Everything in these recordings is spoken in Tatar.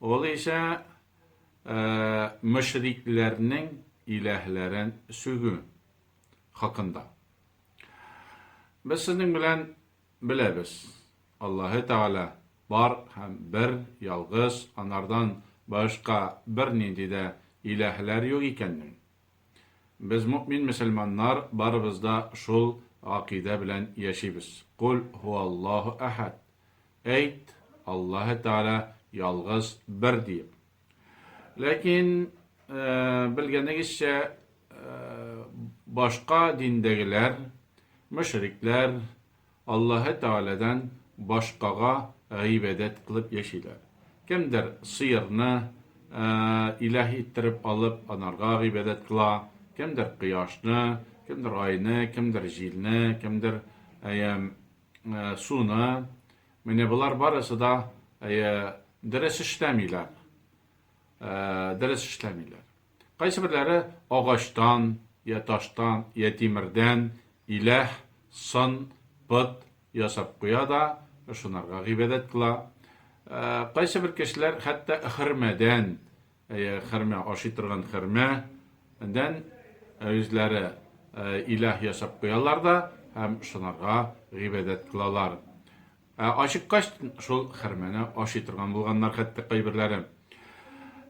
Ул исә мөшрикләрнең иләһләрен сүгү хакында. Без сезнең белән беләбез, Аллаһы Тәгалә бар һәм бер, ялгыз, анардан башка бернинди дә иләһләр юк икәнен. Без мөэмин мөселманнар барыбыз да шул гакыйдә белән яшибез. Коль һуаллаһу әхәд. Әйт, Аллаһы Тәгалә ялгыз, бер диеп. Ләкин, белгәнегезчә, башка диндәгеләр, мөшрикләр, Аллаһы Тәгаләдән башкага гыйбадәт кылып яшиләр. Кемдер сыерны илаһ иттереп алып, анарга гыйбадәт кыла, кемдер кояшны, кемдер айны, кемдер җилне, кемдер суны. Менә болар барысы да дөрес эшләмиләр. Дөрес эшләмиләр. Кайсыберләре агачтан, йә таштан, йә тимердән иләһ, сын, пот, ясап куя да, ышанырга гыйбадәт кыла. Кайсыбер кешеләр хәтта хөрмәдән, әйе, хөрмә, ашый торган хөрмә, дән үзләре иләһ ясап куялар да һәм ышанырга гыйбадәт кылалар. Ә ачыккач, шул хәрмәне ашый торган булганнар хәтта кайберләре.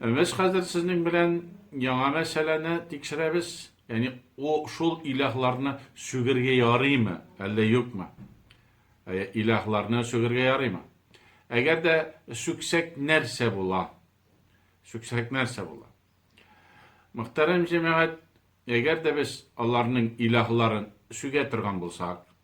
Без хәзер сезнең белән яңа мәсьәләне тикшерәбез, яни у шул илаһларны сүгергә ярыймы, әллә юкмы? Ә илаһларны сүгергә ярыймы? Әгәр дә сүксәк нәрсә була? Сүксәк нәрсә була? Мөхтәрәм җәмәгать, әгәр дә без аларның илаһларын сүгә торган булсак,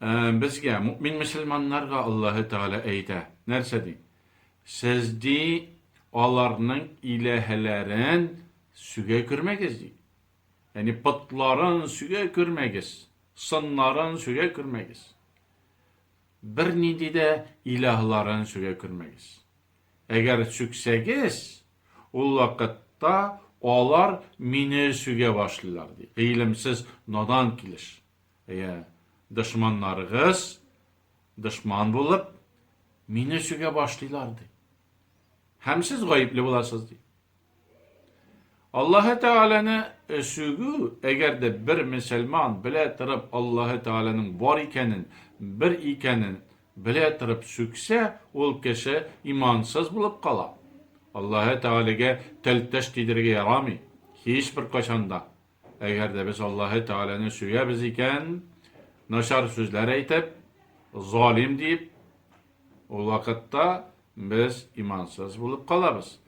Ә, безгә, мөмин мөселманнарга Аллаһы Тәгалә әйтә. Нәрсә ди? Сез ди аларның иләһәләрен сүгә күрмәгез ди. Ягъни потларын сүгә күрмәгез, сыннарын сүгә күрмәгез. Бернинди дә илаһларын сүгә күрмәгез. Әгәр сүксәгез, Ул вакытта алар мине сүгә башлыйлар, ди. Гыйлемсез, надан килеш. Әйе, дошманнарыгыз, дошман булып, мине сүгә башлыйлар, ди. Һәм сез гаепле буласыз, ди. Аллаһы Тәгаләне сүгү, әгәр дә бер мөселман белә торып Аллаһы Тәгаләнең бар икәнен, бер икәнен Белә торып сүксә, ул кеше имансыз булып кала. Аллаһы Тәгаләгә тел-теш тидерергә ярамый, һичбер кайчан да. Әгәр дә без Аллаһы Тәгаләне сөябез икән, начар сүзләр әйтеп, залим диеп, ул вакытта без имансыз булып калабыз.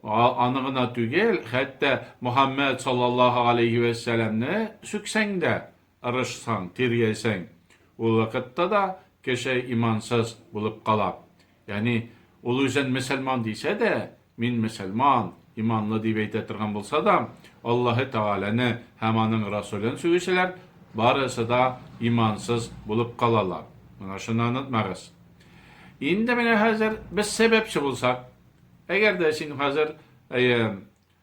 Аны гына түгел, хәтта Мөхәммәд саллаллаһу галәйһи вә сәламне сүксәң дә, Тырышсаң, тиргәйсәң, ул вакытта да кеше имансыз булып кала. Ягъни, ул үзен мөселман дисә дә, мин мөселман, иманлы дип әйтә торган булса да, Аллаһы Тәгаләне һәм Аның Расулен сүгүчеләр барысы да имансыз булып калалар. Менә шуны онытмагыз. Инде менә хәзер без сәбәпче булсак, әгәр дә син хәзер, әйе,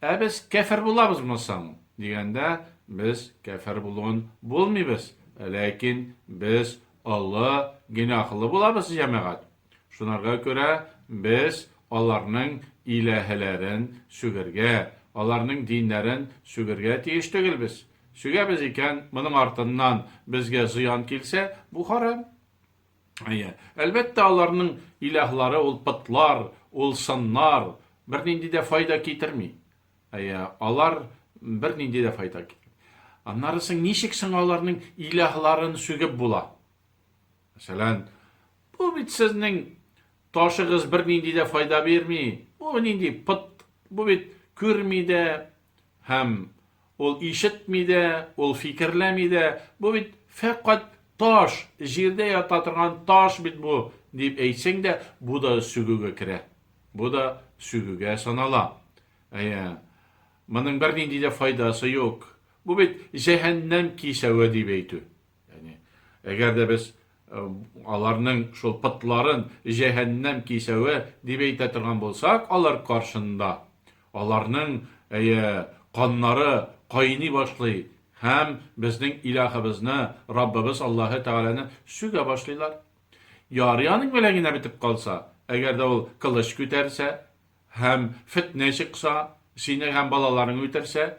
Ә без кяфер булабызмы соң? дигәндә, без кяфер булуын булмыйбыз, ләкин без олы гөнаһлы булабыз, җәмәгать. Шунарга күрә без аларның иләһеләрен сүгергә, аларның диннәрен сүгергә тиеш түгелбез. Сүгәбез икән, моның артыннан безгә зыян килсә, бу харам. Әйе. Әлбәттә, аларның илаһлары ул потлар, ул сыннар, бернинди дә файда китерми. Әйе, алар бернинди дә файда китерми. Аннары соң ничек соң аларның илаһларын сүгеп була? Мәсәлән, бу бит сезнең ташыгыз бернинди дә файда бирми. Бу нинди пот, бу бит күрми дә, Һәм ул ишетми дә, ул фикерләми дә, бу бит фәкать таш, җирдә ята торган таш бит бу, дип әйтсәң дә, бу да сүгүгә керә. Бу да сүгүгә санала. Әйе, моның бернинди дә файдасы юк. Бу бит җәһәннәм кисәве дип әйтү. Яни, әгәр дә без аларның шул пытларын җәһәннәм кисәве дип әйтә торган булсак, алар каршында, аларның әйе, каннары кайный башлый һәм безнең Илаһыбызны, Раббыбыз Аллаһы Тәгаләне сүгә башлыйлар. Ярый аның белән генә бетеп калса, әгәр дә ул кылыч күтәрсә һәм фетнә чыкса, сине һәм балаларың үтерсә,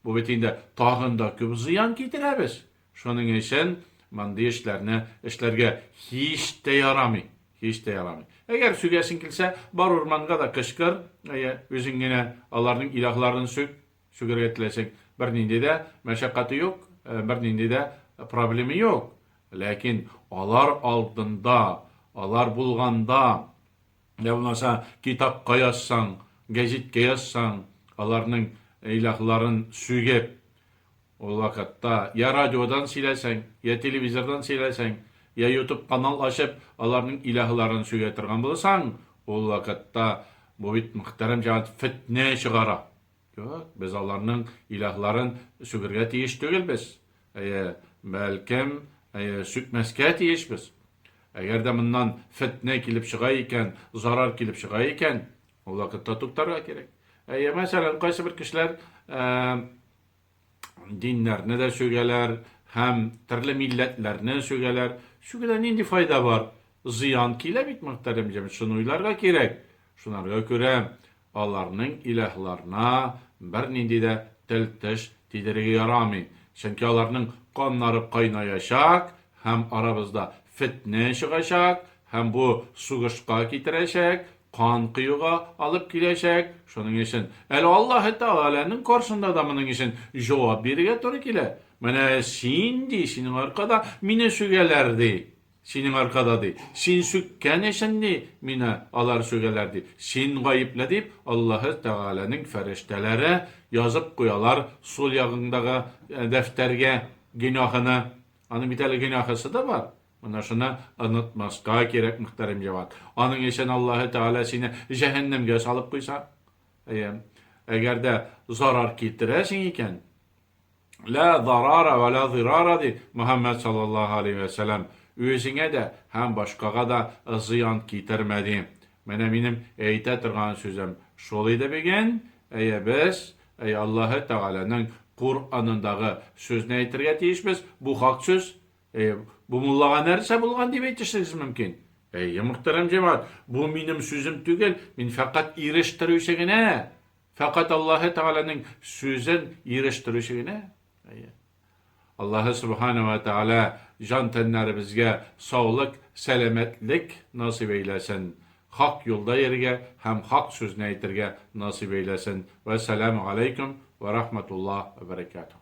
Бу бит инде тагын да күп зыян китерә без. Шуның өчен мондый эшләрне эшләргә һич тә ярамый, һич тә ярамый. Әгәр сүгәсең килсә, бар урманга да кычкыр, әйе, үзең генә аларның илаһларын сүг, сүгәргә теләсәң, бернинди дә мәшәкате юк, бернинди дә проблема юк. Ләкин алар алдында, алар булганда, Йә булмаса, китапка язсаң, гәҗиткә язсаң, аларның илаһларын сүгеп, ул вакытта йә радиодан сөйләсәң, йә телевизордан сөйләсәң, йә ютуб канал ачып, аларның илаһларын сүгә торган булсаң, ул вакытта бу бит, мөхтәрәм җәмәгать, фетнә чыгара. Юк, без аларның илаһларын сүгергә тиеш түгелбез. Әйе, бәлкем, әйе, сүкмәскә тиешбез. Әгәр дә моннан фетнә килеп чыга икән, зарар килеп чыга икән, ул вакытта туктарга кирәк. Әйе, мәсәлән, кайсы бер кешеләр диннәрне дә сүгәләр һәм төрле милләтләрне сүгәләр. Сүгүдән нинди файда бар? Зыян килә бит, мөхтәрәм җәмәгать, шуны уйларга кирәк. Шунарга күрә Аларның илаһларына бернинди дә тел-теш тидерергә ярамый, чөнки аларның каннары кайнаячак һәм арабызда фетнә чыгачак һәм бу сугышка китерәчәк, кан коюга алып киләчәк, шуның өчен әле Аллаһы Тәгаләнең каршында да моның өчен җавап бирергә туры килә. Менә син, ди, синең аркада мине сүгәләр, ди. Синең аркада, ди. Син сүккән өчен, ди, мине алар сүгәләр, ди. Син гаепле, дип, Аллаһы Тәгаләнең фәрештәләре язып куялар сул ягыңдагы дәфтәргә гөнаһыны. Аның бит әле гөнаһысы да бар. Менә шуны онытмаска кирәк, мөхтәрәм җават. Аның өчен Аллаһы Тәгалә сине җәһәннәмгә салып куйса? Әйе. Әгәр дә зарар китерәсең икән, Лә зарара вә лә зирара ди Мөхәммәд саллаллаһу алейһи вә сәләм. Үзеңә дә һәм башкага да зыян китермә ди. Менә минем әйтә торган сүзем шул иде биген. Әйе, без, әй Аллаһы Тәгаләнең Куранындагы сүзне әйтергә тиешбез. Бу хак сүз. Әйе, бу муллага нәрсә булган дип әйтешегез мөмкин? Әйе, мөхтәрәм җәмәгать, бу минем сүзем түгел, мин фәкать ирештерүче генә. Фәкать Аллаһы Тәгаләнең сүзен ирештерүче генә. Әйе. Аллаһы Субхана ва Тәгалә җан тәннәребезгә саулык, сәламәтлек насыйп әйләсен. Хак юлда йөрергә һәм хак сүзне әйтергә насыйп әйләсен. Вәссәламү галәйкүм вә рахматуллаһ вә бәрәкәтүһ.